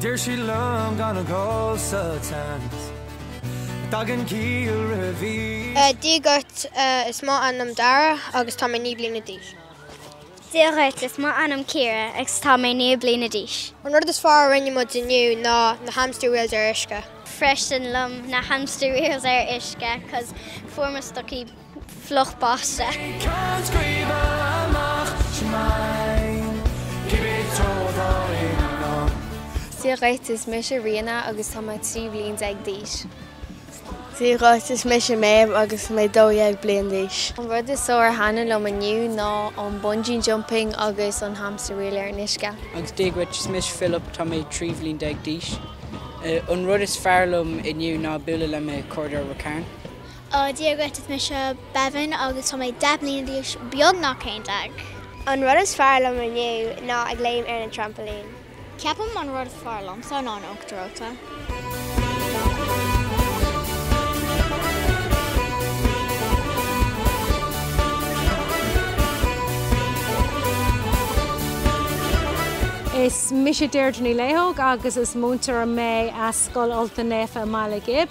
Deir siad liom gan a dhul sa tseans Tagann ciall roimh aois. Dia dhuit, is é m'ainm Dara agus tá mé naoi bliana d'aois. Dia dhuit, is é m'ainm Ciara agus tá mé naoi bliana d'aois. An rud is fearr a rinne muid inniu ná na hamster wheels ar uisce. freisin liom na hamster wheels ar uisce cos fuair mo stocaí. fliuch basa. Dia dhuit, is mise Ríona agus tá mé trí bhliain déag d'aois. Dia dhuit, is mise Méabh agus mé dó dhéag bliain d'aois. An rud is fearr a thaitin liom inniu ná an bungee jumping agus an hamster wheel ar an uisce. Agus dia dhuit, is mise Philip, tá mé trí bhliain déag d'aois. An rud is fearr liom inniu ná bualadh le mo chairde ó Ráth Cairn. Ó Dia dhuit is mise Bevin agus tá mé deich mbliana d'aois beagnach haon déag. An rud is fearr liom inniu ná ag léim ar na trampailín. Ceapaim an rud is fearr liomsa ná an t-uachtar reoite. Is mise Deirdre Ní Liathóg agus is múinteoir mé as Scoil Ultain Naofa i mBaile Ghib.